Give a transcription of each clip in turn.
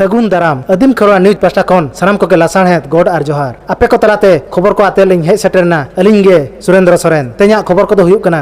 ᱥᱟᱹᱜᱩᱱ ᱫᱟᱨᱟᱢ ᱟᱹᱫᱤᱢ ᱠᱷᱚᱨᱣᱟ ᱱᱤᱭᱩᱡᱽ ᱯᱟᱥᱴᱟ ᱠᱷᱚᱱ ᱥᱟᱱᱟᱢ ᱠᱚᱜᱮ ᱞᱟᱥᱟᱬᱦᱮᱫ ᱜᱚᱰ ᱟᱨ ᱡᱚᱦᱟᱨ ᱟᱯᱮ ᱠᱚ ᱛᱟᱞᱟᱛᱮ ᱠᱷᱚᱵᱚᱨ ᱠᱚ ᱟᱛᱮ ᱞᱤᱧ ᱦᱮᱡ ᱥᱮᱴᱮᱨᱱᱟ ᱟᱹᱞᱤᱧ ᱜᱮ ᱥᱩᱨᱮᱱᱫᱨᱚ ᱥᱚᱨᱮᱱ ᱛᱮᱦᱮᱧᱟᱜ ᱠᱷᱚᱵᱚᱨ ᱠᱚᱫᱚ ᱦᱩᱭᱩᱜ ᱠᱟᱱᱟ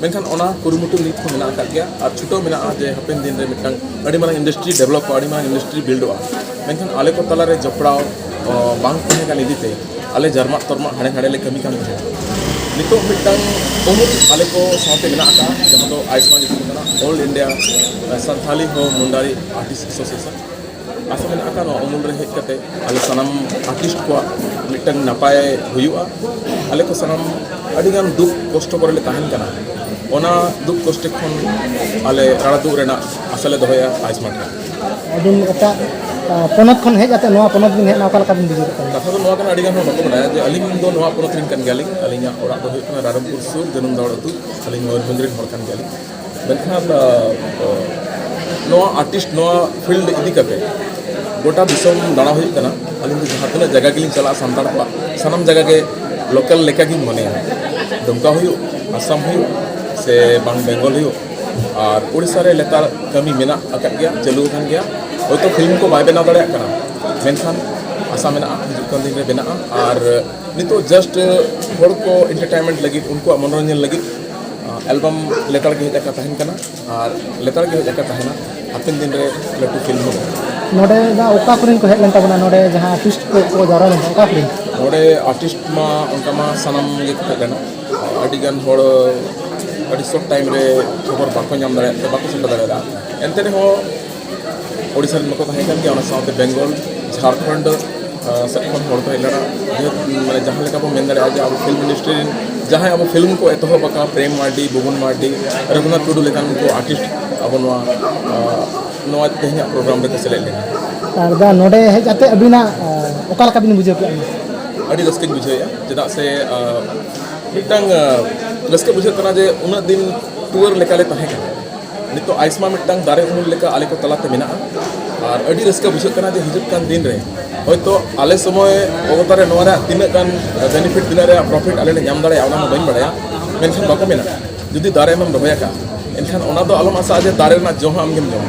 ᱢᱮᱱᱠᱷᱟᱱ ᱚᱱᱟ ᱠᱩᱨᱩᱢᱩᱴᱩ ᱱᱤᱛ ᱦᱚᱸ ᱢᱮᱱᱟᱜ ᱟᱠᱟᱫ ᱜᱮᱭᱟ ᱟᱨ ᱪᱷᱩᱴᱟᱹᱣ ᱢᱮᱱᱟᱜᱼᱟ ᱡᱮ ᱦᱟᱯᱮᱱ ᱫᱤᱱ ᱨᱮ ᱢᱤᱫᱴᱟᱝ ᱟᱹᱰᱤ ᱢᱟᱨᱟᱝ ᱤᱱᱰᱟᱥᱴᱨᱤ ᱰᱮᱵᱷᱞᱚᱯᱚᱜᱼᱟ ᱟᱹᱰᱤ ᱢᱟᱨᱟᱝ ᱤᱱᱰᱟᱥᱴᱨᱤ ᱵᱤᱞᱰᱚᱜᱼᱟ ᱢᱮᱱᱠᱷᱟᱱ ᱟᱞᱮ ᱠᱚ ᱛᱟᱞᱟᱨᱮ ᱡᱚᱯᱲᱟᱣ ᱵᱟᱝ ᱛᱟᱦᱮᱸ ᱠᱟᱱ ᱤᱫᱤᱛᱮ ᱟᱞᱮ ᱡᱟᱨᱢᱟᱜ ᱛᱚᱨᱢᱟᱜ ᱦᱟᱸᱰᱮ ᱱᱟᱰᱮ ᱞᱮ ᱠᱟᱹᱢᱤ ᱠᱟᱱ ᱛᱟᱦᱮᱸᱫ ᱱᱤᱛᱚᱜ ᱢᱤᱫᱴᱟᱝ ᱩᱢᱩᱞ ᱟᱞᱮ ᱠᱚ ᱥᱟᱶᱛᱮ ᱢᱮᱱᱟᱜ ᱟᱠᱟᱫᱼᱟ ᱡᱟᱦᱟᱸ ᱫᱚ ᱟᱭᱩᱥᱢᱟᱱ ᱧᱩᱛᱩᱢ ᱠᱟᱱᱟ ᱚᱞ ᱤᱱᱰᱤᱭᱟ ᱥᱟᱱᱛᱷᱟᱞᱤ ᱦᱚᱸ ᱢᱩᱱᱰᱟᱨᱤ ᱟᱨᱴᱤᱥᱴ ᱮᱥᱳᱥᱤᱭᱮᱥᱚᱱ ᱟᱥᱚᱜ ᱢᱮᱱᱟᱜ ᱟᱠᱟᱫ ᱱᱚᱣᱟ ᱩᱢᱩᱞ ᱨᱮ ᱦᱮᱡ ᱠᱟᱛᱮ ᱟᱞᱮ ᱥᱟᱱᱟᱢ ᱟᱨᱴᱤᱥᱴ ᱠᱚᱣᱟᱜ ᱢᱤᱫᱴᱟᱝ ᱱᱟᱯᱟᱭ ᱦᱩᱭᱩᱜᱼᱟ ᱟᱞᱮ ᱠᱚ ᱥᱟᱱᱟᱢ ᱟᱹᱰᱤ ᱜᱟᱱ ᱫᱩᱠ ᱠᱚᱥᱴᱚ ᱠᱚᱨᱮ ᱞᱮ ᱛᱟᱦᱮᱱ ᱠᱟᱱᱟ ᱚᱱᱟ ᱫᱩᱠ ᱠᱚᱥᱴᱚ ᱠᱷᱚᱱ ᱟᱞᱮ ᱨᱟᱲᱟ ᱫᱩᱜ ᱨᱮᱱᱟᱜ ᱟᱥᱟ ᱞᱮ ᱫᱚᱦᱚᱭᱟ ᱟᱭᱩᱥᱢᱟᱱ ᱨᱮ ᱟᱹᱵᱤᱱ ᱮᱴᱟᱜ ᱯᱚᱱᱚᱛ ᱠᱷᱚᱱ ᱦᱮᱡ ᱠᱟᱛᱮ ᱱᱚᱣᱟ ᱯᱚᱱᱚᱛ ᱵᱤᱱ ᱦᱮᱡ ᱮᱱᱟ ᱚᱠᱟ ᱞᱮᱠᱟ ᱵᱤᱱ ᱵᱩᱡᱷᱟᱹᱣ ᱠᱟᱱᱟ ᱠᱟᱛᱷᱟ ᱫᱚ ᱱᱚᱣᱟ ᱠᱟᱱᱟ ᱟᱹᱰᱤ ᱜᱟᱱ ᱦᱚᱲ ᱵᱟᱠᱚ ᱵᱟᱲᱟᱭᱟ ᱡᱮ ᱟᱹᱞᱤᱧ ᱫᱚ ᱱᱚᱣᱟ ᱯᱚᱱᱚᱛ ᱨᱮᱱ ᱠᱟᱱ ᱜᱮᱭᱟᱞᱤᱧ ᱟᱹᱞᱤᱧᱟᱜ ᱚᱲᱟᱜ ᱫᱚ ᱦᱩᱭᱩᱜ ᱠᱟᱱᱟ ᱨᱟᱭᱨᱚᱝᱯᱩᱨ ᱥᱩᱨ ᱡᱟᱹᱱᱩᱢ ᱫᱟᱣᱲ ᱟᱹᱛᱩ ᱟᱹᱞᱤᱧ ᱢᱚᱭᱩᱨᱵᱷᱚᱸᱡᱽ ᱨᱮᱱ ᱦᱚᱲ ᱠᱟᱱ ᱜᱮᱭᱟᱞᱤᱧ ᱢᱮᱱᱠᱷᱟᱱ ᱱᱚᱣᱟ ᱟᱨᱴᱤᱥᱴ ᱱᱚᱣᱟ ᱯᱷᱤᱞᱰ ᱤᱫᱤ ᱠᱟᱛᱮ ᱜᱚᱴᱟ ᱫᱤᱥᱚᱢ ᱫᱟᱬᱟ ᱦᱩᱭᱩᱜ ᱠᱟᱱᱟ ᱟᱹᱞᱤᱧ ᱫᱚ ᱡᱟᱦᱟᱸ ᱛᱤᱱᱟᱹᱜ ᱡᱟᱭᱜᱟ ᱜᱮᱞᱤᱧ ᱪᱟᱞᱟᱜᱼᱟ ᱥᱟᱱᱛᱟᱲ ᱠᱚᱣᱟᱜ ᱥᱟᱱᱟᱢ ᱡᱟᱭᱜᱟ ᱜᱮ ᱞᱳᱠᱟᱞ ᱞᱮᱠᱟ ᱜᱤᱧ ᱢᱚᱱᱮᱭᱟ ᱫᱩᱢᱠᱟ ᱦᱩᱭᱩᱜ ᱟᱥᱟᱢ ᱦᱩᱭᱩᱜ ᱥᱮ ᱵᱟᱝ ᱵᱮᱝᱜᱚᱞ ᱦᱩᱭᱩᱜ ᱟᱨ ᱳᱰᱤᱥᱟ ᱨᱮ ᱞᱮᱛᱟᱲ ᱠᱟᱹᱢᱤ ᱢᱮᱱᱟᱜ ᱟᱠᱟᱫ ᱜᱮᱭᱟ ᱪᱟᱹᱞᱩ ᱟᱠᱟᱱ ᱜᱮᱭᱟ ᱦᱚᱭᱛᱳ ᱯᱷᱤᱞᱢ ᱠᱚ ᱵᱟᱭ ᱵᱮᱱᱟᱣ ᱫᱟᱲᱮᱭᱟᱜ ᱠᱟᱱᱟ ᱢᱮᱱᱠᱷᱟᱱ ᱟᱥᱟ ᱢᱮᱱᱟᱜᱼᱟ ᱦᱤᱡᱩᱜ ᱠᱟᱱ ᱫᱤᱱ ᱨᱮ ᱵᱮᱱᱟᱜᱼᱟ ᱟᱨ ᱱᱤᱛᱚᱜ ᱡᱟᱥᱴ ᱦᱚᱲ ᱠᱚ ᱮᱱᱴᱟᱨᱴᱮᱱᱢᱮᱱᱴ ᱞᱟᱹᱜᱤᱫ ᱩᱱᱠᱩᱣᱟᱜ ᱢᱚᱱᱳᱨᱚᱧᱡᱚᱱ ᱞᱟᱹᱜᱤᱫ ᱮᱞᱵᱟᱢ ᱞᱮᱛᱟᱲ ᱜᱮ ᱦᱮᱡ ᱟᱠᱟ ᱛᱟᱦᱮᱱ ᱠᱟᱱᱟ ᱟᱨ ᱞᱮᱛᱟᱲ ᱜᱮ ᱦᱮᱡ ᱟᱠᱟ ᱛᱟᱦᱮᱱᱟ ᱦᱟᱯᱮᱱ ᱫᱤᱱ ᱨᱮ ᱞᱟᱹᱴᱩ ᱯᱷᱤᱞᱢ ᱦᱚᱸ ᱱᱚᱰᱮ ᱡᱟᱦᱟᱸ ᱚᱠᱟ ᱠᱚᱨᱮᱱ ᱠᱚ ᱦᱮᱡ ᱞᱮᱱ ᱛᱟᱵᱚᱱᱟ ᱱᱚᱰᱮ ᱡᱟᱦᱟᱸ ᱟᱨᱴᱤᱥᱴ ᱠᱚ ᱠᱚ ᱡᱟᱣᱨᱟ ᱞᱮᱱ ᱚᱠᱟ ᱠᱚᱨᱮᱱ ᱱᱚᱰᱮ ᱟᱨᱴᱤᱥᱴ ᱢᱟ ᱚᱱᱠᱟ ᱢᱟ ᱥᱟᱱᱟᱢ ᱜᱮ ᱠᱚ ᱦᱮᱡ ᱞᱮᱱᱟ ᱟᱹᱰᱤ ᱜᱟᱱ ᱦᱚᱲ ᱟᱹᱰᱤ ᱥᱚᱨᱴ ᱴᱟᱭᱤᱢ ᱨᱮ ᱠᱷᱚᱵᱚᱨ ᱵᱟᱠᱚ ᱧᱟᱢ ᱫᱟᱲᱮᱭᱟᱜ ᱛᱮ ᱵᱟᱠᱚ ᱥᱮᱴᱮᱨ ᱫᱟᱲᱮᱭᱟᱫᱟ ᱮᱱᱛᱮ ᱨᱮᱦᱚᱸ ᱳᱰᱤᱥᱟ ᱨᱮᱱ ᱵᱟᱠᱚ ᱛᱟᱦᱮᱸ ᱠᱟᱱ ᱜᱮᱭᱟ ᱚᱱᱟ ᱥᱟᱶᱛᱮ ᱵᱮᱝᱜᱚᱞ ᱡᱷᱟᱲᱠᱷᱚᱸᱰ ᱥᱮᱫ ᱠᱷᱚᱱ ᱦᱚᱲ ᱠᱚ ᱦᱮᱡ ᱞᱮᱱᱟ ᱢᱟᱱᱮ ᱡᱟᱦᱟᱸ ᱞᱮᱠᱟ ᱵᱚᱱ ᱢᱮᱱ ᱫᱟᱲᱮᱭᱟᱜᱼᱟ ᱡᱮ ᱟᱵᱚ ᱯᱷᱤᱞᱢ ᱤᱱᱰᱟᱥᱴᱨᱤ ᱨᱮᱱ ᱡᱟᱦᱟᱸᱭ ᱟᱵᱚ ᱯᱷᱤᱞᱢ ᱠᱚ ᱮᱛᱚᱦᱚᱵ ᱟᱠᱟᱫ ᱯᱨᱮᱢ ᱢᱟᱨᱰᱤ ᱵᱩᱵᱩᱱ ᱢᱟᱨᱰᱤ ᱨᱚᱜᱷᱩᱱᱟᱛᱷ ᱴᱩᱰᱩ ᱞᱮᱠᱟᱱ ᱩᱱᱠᱩ ᱟᱨᱴᱤᱥᱴ ᱟᱵᱚ ᱱᱚᱣᱟ ᱱᱚᱣᱟ ᱛᱮᱦᱮᱧᱟᱜ ᱯᱨᱳᱜᱨᱟᱢ ᱨᱮᱠᱚ ᱥᱮᱞᱮᱫ ᱞᱮᱱᱟ ᱟᱨ ᱫᱟ ᱱᱚᱰᱮ ᱦᱮᱡ ᱠᱟᱛᱮ ᱟᱹᱵᱤᱱᱟᱜ ᱚᱠᱟ ᱞᱮᱠᱟ ᱵᱤᱱ ᱵᱩᱡᱷᱟᱹᱣ ᱠᱮᱫᱟ ᱟᱹᱰᱤ ᱨᱟᱹᱥᱠᱟᱹᱧ ᱵᱩᱡᱷᱟᱹᱣᱮᱫᱼᱟ ᱪᱮᱫᱟᱜ ᱥᱮ ᱢᱤᱫᱴᱟᱝ ᱨᱟᱹᱥᱠᱟᱹ ᱵᱩᱡᱷᱟᱹᱜ ᱠᱟᱱᱟ ᱡᱮ ᱩᱱᱟᱹᱜ ᱫᱤᱱ ᱴᱩᱣᱟᱹᱨ ᱞᱮᱠᱟᱞᱮ ᱛᱟᱦᱮᱸ ᱠᱟᱱᱟ ᱱᱤᱛᱚᱜ ᱟᱭᱥᱢᱟ ᱢᱤᱫᱴᱟᱝ ᱫᱟᱨᱮ ᱩᱢᱩᱞ ᱞᱮᱠᱟ ᱟᱞᱮ ᱠᱚ ᱛᱟᱞᱟᱛᱮ ᱢᱮᱱᱟᱜᱼᱟ ᱟᱨ ᱟᱹᱰᱤ ᱨᱟᱹᱥᱠᱟᱹ ᱵᱩᱡᱷᱟᱹᱜ ᱠᱟᱱᱟ ᱡᱮ ᱦᱤᱡᱩᱜ ᱠᱟᱱ ᱫᱤᱱ ᱨᱮ ᱦᱚᱭᱛᱚ ᱟᱞᱮ ᱥᱚᱢᱚᱭ ᱚᱵᱚᱛᱟ ᱨᱮ ᱱᱚᱣᱟ ᱨᱮᱭᱟᱜ ᱛᱤᱱᱟᱹᱜ ᱜᱟᱱ ᱵᱮᱱᱤᱯᱷᱤᱴ ᱛᱤᱱᱟᱹᱜ ᱨᱮᱭᱟᱜ ᱯᱨᱚᱯᱷᱤᱴ ᱟᱞᱮ ᱞᱮ ᱧᱟᱢ ᱫᱟᱲᱮᱭᱟᱜᱼᱟ ᱚᱱᱟ ᱦᱚᱸ ᱵᱟᱹᱧ ᱵᱟᱲᱟᱭᱟ ᱢᱮᱱᱠᱷᱟᱱ ᱵᱟᱠᱚ ᱢᱮᱱᱟ ᱡᱩᱫᱤ ᱫᱟᱨᱮ ᱮᱢᱮᱢ ᱨᱚᱦᱚᱭ ᱟᱠᱟᱫ ᱮᱱᱠᱷᱟᱱ ᱚᱱᱟ ᱫᱚ ᱟᱞᱚᱢ ᱟᱥᱟᱜᱼᱟ ᱡᱮ ᱫᱟᱨᱮ ᱨᱮᱱᱟᱜ ᱡᱚ ᱦᱚᱸ ᱟᱢᱜᱮᱢ ᱡᱚᱢᱟ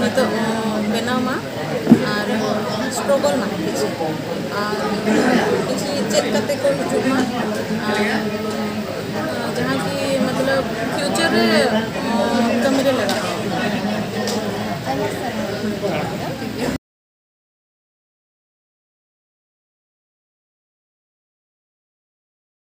ᱱᱤᱛᱚᱜ ᱵᱮᱱᱟᱣ ᱢᱟ ᱟᱨ ᱥᱴᱨᱚᱜᱚᱞ ᱢᱟ ᱠᱤᱪᱷᱩ ᱟᱨ ᱠᱤᱪᱷᱩ ᱪᱮᱫ ᱠᱟᱛᱮ ᱠᱚ ᱦᱤᱡᱩᱜ ᱢᱟ ᱟᱨ ᱡᱟᱦᱟᱸ ᱠᱤ ᱢᱚᱛᱞᱚᱵ ᱯᱷᱤᱭᱩᱪᱟᱨ ᱨᱮ ᱠᱟᱹᱢᱤ ᱨᱮ ᱞᱟᱜᱟᱜᱼᱟ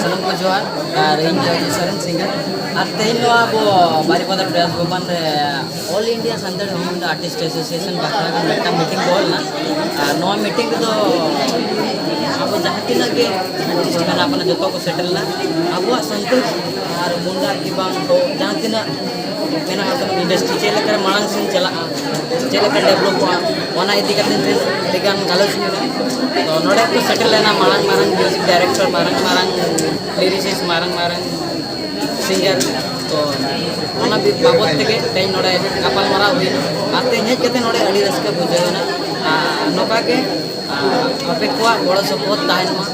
ᱥᱟᱱᱟᱢ ᱠᱚ ᱡᱚᱦᱟᱨ ᱟᱨ ᱤᱧ ᱫᱚ ᱥᱚᱨᱮᱱ ᱥᱤᱝᱜᱟᱨ ᱟᱨ ᱛᱮᱦᱮᱧ ᱱᱚᱣᱟ ᱟᱵᱚ ᱵᱟᱨᱤᱯᱟᱫᱟ ᱯᱨᱮᱥ ᱵᱷᱚᱵᱚᱱ ᱨᱮ all India Santal human artist association ᱵᱟᱠᱷᱨᱟ ᱜᱮ ᱢᱤᱫᱴᱟᱝ ᱢᱤᱴᱤᱝ ᱠᱚ ᱦᱩᱭ ᱞᱮᱱᱟ ᱟᱨ ᱱᱚᱣᱟ ᱢᱤᱴᱤᱝ ᱨᱮᱫᱚ ᱟᱵᱚ ᱡᱟᱦᱟᱸ ᱛᱤᱱᱟᱹᱜ ᱜᱮ ᱟᱨᱴᱤᱥᱴ ᱢᱮᱱᱟᱜ ᱵᱚᱱᱟ ᱡᱚᱛᱚ ᱠᱚ ᱥᱮᱴᱮᱨ ᱞᱮᱱᱟ ᱟᱵᱚᱣᱟᱜ ᱥᱟᱱᱛᱟᱲ ᱟᱨ ᱢᱩᱱᱰᱟ ᱠᱤ ᱵᱟᱝ ᱦᱳ ᱡᱟᱦᱟᱸ ᱛᱤᱱᱟᱹᱜ ᱤᱱᱰᱟᱥᱴᱨᱤ ᱪᱮᱫ ᱞᱮᱠᱟ ᱢᱟᱲᱟᱝ ᱥᱮᱫ ᱪᱟᱞᱟᱜᱼᱟ ᱪᱮᱫ ᱞᱮᱠᱟ ᱰᱮᱵᱷᱞᱚᱯᱚᱜᱼᱟ ᱚᱱᱟ ᱤᱫᱤ ᱠᱟᱛᱮ ᱟᱹᱰᱤᱜᱟᱱ ᱜᱟᱞᱚᱪ ᱢᱮᱱᱟᱜᱼᱟ ᱛᱚ ᱱᱚᱰᱮ ᱠᱚ ᱥᱮᱴᱮᱨ ᱞᱮᱱᱟ ᱢᱟᱨᱟᱝ ᱢᱟᱨᱟᱝ ᱢᱤᱭᱩᱡᱤᱠ ᱰᱟᱭᱨᱮᱠᱴᱚᱨ ᱢᱟᱨᱟᱝ ᱢᱟᱨᱟᱝ ᱞᱤᱨᱤᱥᱤᱥ ᱢᱟᱨᱟᱝ ᱢᱟᱨᱟᱝ ᱥᱤᱝᱜᱟᱨ ᱛᱚ ᱚᱱᱟ ᱵᱟᱵᱚᱫ ᱛᱮᱜᱮ ᱛᱮᱦᱮᱧ ᱱᱚᱰᱮ ᱜᱟᱯᱟᱞᱢᱟᱨᱟᱣ ᱦᱩᱭᱱᱟ ᱟᱨ ᱛᱮᱦᱮᱧ ᱦᱮᱡ ᱠᱟᱛᱮ ᱱᱚᱰᱮ ᱟᱹᱰᱤ ᱨᱟᱹᱥᱠᱟᱹ ᱵᱩᱡᱷᱟᱹᱣ ᱮᱱᱟ ᱟᱨ ᱱᱚᱝᱠᱟ ᱜᱮ ᱟᱯᱮ ᱠᱚᱣᱟᱜ ᱜᱚᱲᱚ ᱥᱚᱯᱚᱦᱚᱫ ᱛᱟᱦᱮᱱ ᱢᱟ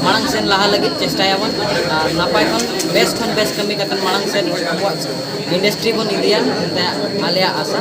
ᱢᱟᱲᱟᱝ ᱥᱮᱱ ᱞᱟᱦᱟ ᱞᱟᱹᱜᱤᱫ ᱪᱮᱥᱴᱟᱭᱟᱵᱚᱱ ᱟᱨ ᱱᱟᱯᱟᱭ ᱠᱷᱚᱱ ᱵᱮᱥ ᱠᱷᱚᱱ ᱵᱮᱥ ᱠᱟᱹᱢᱤ ᱠᱟᱛᱮ ᱢᱟᱲᱟᱝ ᱥᱮᱱ ᱟᱵᱚᱣᱟᱜ ᱤᱱᱰᱟᱥᱴᱨᱤ ᱵᱚᱱ ᱤᱫᱤᱭᱟ ᱢᱮᱱᱛᱮ ᱟᱞᱮᱭᱟᱜ ᱟᱥᱟ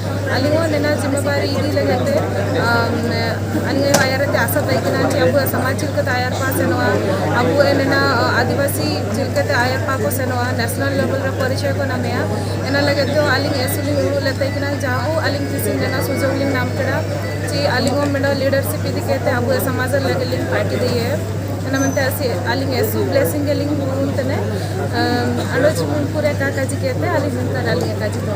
ᱟᱹᱞᱤᱧ ᱦᱚᱸ ᱱᱮᱱᱟ ᱡᱤᱢᱟᱹᱵᱟᱨᱤ ᱤᱫᱤ ᱞᱟᱹᱜᱤᱫ ᱛᱮ ᱟᱹᱞᱤᱧ ᱟᱭᱳ ᱟᱭᱟᱨ ᱟᱛᱮ ᱟᱥᱟ ᱛᱟᱦᱮᱸ ᱠᱟᱱᱟ ᱡᱮ ᱟᱵᱚᱣᱟᱜ ᱥᱚᱢᱟᱡᱽ ᱪᱮᱫ ᱞᱮᱠᱟᱛᱮ ᱟᱭᱟᱨ ᱯᱟᱥ ᱥᱮᱱᱚᱜᱼᱟ ᱟᱵᱚ ᱱᱮᱱᱟ ᱟᱹᱫᱤᱵᱟᱹᱥᱤ ᱪᱮᱫ ᱞᱮᱠᱟᱛᱮ ᱟᱭᱟᱨ ᱯᱟᱥ ᱠᱚ ᱥᱮᱱᱚᱜᱼᱟ ᱱᱮᱥᱱᱟᱞ ᱞᱮᱵᱮᱞ ᱨᱮ ᱯᱚᱨᱤᱪᱚᱭ ᱠᱚ ᱧᱟᱢᱮᱜᱼᱟ ᱚᱱᱟ ᱞᱟᱹᱜᱤᱫ ᱛᱮ ᱟᱹᱞᱤᱧ ᱮᱥ ᱞᱤᱧ ᱩᱫᱩᱜ ᱞᱮᱫ ᱛᱟᱦᱮᱸ ᱠᱟᱱᱟ ᱡᱟ ᱦᱳᱠ ᱟᱹᱞᱤᱧ ᱛᱤᱥ ᱤᱧ ᱢᱮᱱᱟ ᱥᱩᱡᱳᱜᱽ ᱞᱤᱧ ᱧᱟᱢ ᱠᱮᱫᱟ ᱡᱮ ᱟᱹᱞᱤᱧ ᱦᱚᱸ ᱢᱤᱫᱴᱟᱝ ᱞᱤᱰᱟᱨᱥᱤᱯ ᱤᱫᱤ ᱠᱟᱛᱮ ᱟᱵᱚᱣᱟᱜ ᱥᱚᱢᱟᱡᱽ ᱞᱟᱹᱜᱤᱫ ᱞᱤᱧ ᱯᱟᱨᱴᱤ ᱫᱤᱭᱮ ᱚᱱᱟ ᱢᱮᱱᱛᱮ ᱟᱹᱞᱤᱧ ᱮᱥ ᱵᱞᱮᱥᱤᱝ ᱜᱮᱞᱤᱧ ᱜᱩᱱ ᱛᱮᱱᱮ ᱟᱞᱚᱪ ᱢᱩᱱᱯᱩᱨᱮ ᱠᱟᱡᱤ ᱠᱮᱛᱮ ᱟᱹᱞᱤᱧ ᱱᱚᱝᱠᱟ ᱟᱹᱞᱤᱧ ᱠᱟᱡᱤ ᱫᱚ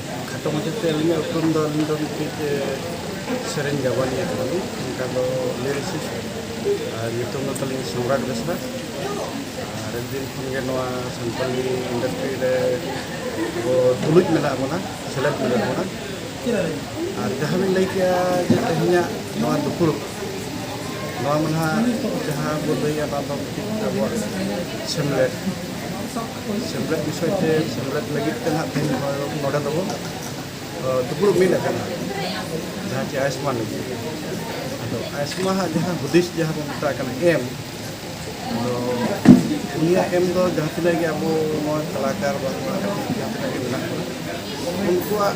ᱠᱷᱟᱴᱚ ᱢᱟᱪᱷᱟᱛᱮ ᱟᱹᱞᱤᱧᱟᱜ ᱩᱯᱨᱩᱢ ᱫᱚ ᱟᱹᱞᱤᱧ ᱫᱚ ᱢᱤᱫᱴᱤᱡ ᱥᱮᱨᱮᱧ ᱜᱟᱵᱟᱱᱤᱭᱟᱹ ᱠᱟᱱᱟᱞᱤᱧ ᱚᱱᱠᱟ ᱫᱚ ᱞᱤᱨᱤᱥᱤᱥᱴ ᱟᱨ ᱧᱩᱛᱩᱢ ᱫᱚ ᱛᱟᱹᱞᱤᱧ ᱥᱚᱢᱨᱟᱴ ᱵᱮᱥᱨᱟ ᱟᱨ ᱟᱹᱰᱤ ᱫᱤᱱ ᱠᱷᱚᱱ ᱜᱮ ᱱᱚᱣᱟ ᱥᱟᱱᱛᱟᱞᱤ ᱤᱱᱰᱟᱥᱴᱨᱤ ᱨᱮ ᱟᱵᱚ ᱛᱩᱞᱩᱡ ᱢᱮᱱᱟᱜ ᱵᱚᱱᱟ ᱥᱮᱞᱮᱫ ᱢᱮᱱᱟᱜ ᱵᱚᱱᱟ ᱟᱨ ᱡᱟᱦᱟᱸ ᱵᱤᱱ ᱞᱟᱹᱭ ᱠᱮᱜᱼᱟ ᱡᱮ ᱛᱮᱦᱮᱧᱟᱜ ᱱᱚᱣᱟ ᱫᱩᱯᱲᱩᱵ ᱱᱚᱣᱟ ᱢᱟ ᱱᱟᱦᱟᱜ ᱡᱟᱦᱟᱸ ᱵᱚᱱ ᱞᱟᱹᱭᱟ ᱚᱱᱟ ᱫᱚ ᱢᱤᱫᱴᱤᱡ ᱟᱵᱚᱣᱟᱜ ᱥᱮᱢᱞᱮᱫ ᱥᱮᱢᱞᱮᱫ ᱵᱤᱥᱚᱭ ᱛᱮ ᱥᱮᱢᱞᱮᱫ ᱞᱟᱹᱜᱤᱫ ᱛᱮ ᱱᱟᱦᱟᱜ ᱛᱮᱦᱮᱧ ᱱᱚᱰᱮ ᱫᱚᱵᱚ ᱫᱩᱯᱲᱩᱵ ᱢᱤᱫ ᱟᱠᱟᱱᱟ ᱡᱟᱦᱟᱸ ᱪᱮ ᱟᱭᱩᱥᱢᱟᱱ ᱞᱟᱹᱜᱤᱫ ᱟᱫᱚ ᱟᱭᱩᱥᱢᱟᱱ ᱦᱟᱜ ᱡᱟᱦᱟᱸ ᱦᱩᱫᱤᱥ ᱡᱟᱦᱟᱸ ᱵᱚᱱ ᱢᱮᱛᱟᱜ ᱠᱟᱱᱟ ᱮᱢ ᱟᱫᱚ ᱩᱱᱤᱭᱟᱜ ᱮᱢ ᱫᱚ ᱡᱟᱦᱟᱸ ᱛᱤᱱᱟᱹᱜ ᱜᱮ ᱟᱵᱚ ᱱᱚᱣᱟ ᱠᱟᱞᱟᱠᱟᱨ ᱵᱟᱝ ᱡᱟᱦᱟᱸ ᱛᱤᱱᱟᱹᱜ ᱜᱮ ᱢᱮᱱᱟᱜ ᱠᱚᱣᱟ ᱩᱱᱠᱩᱣᱟᱜ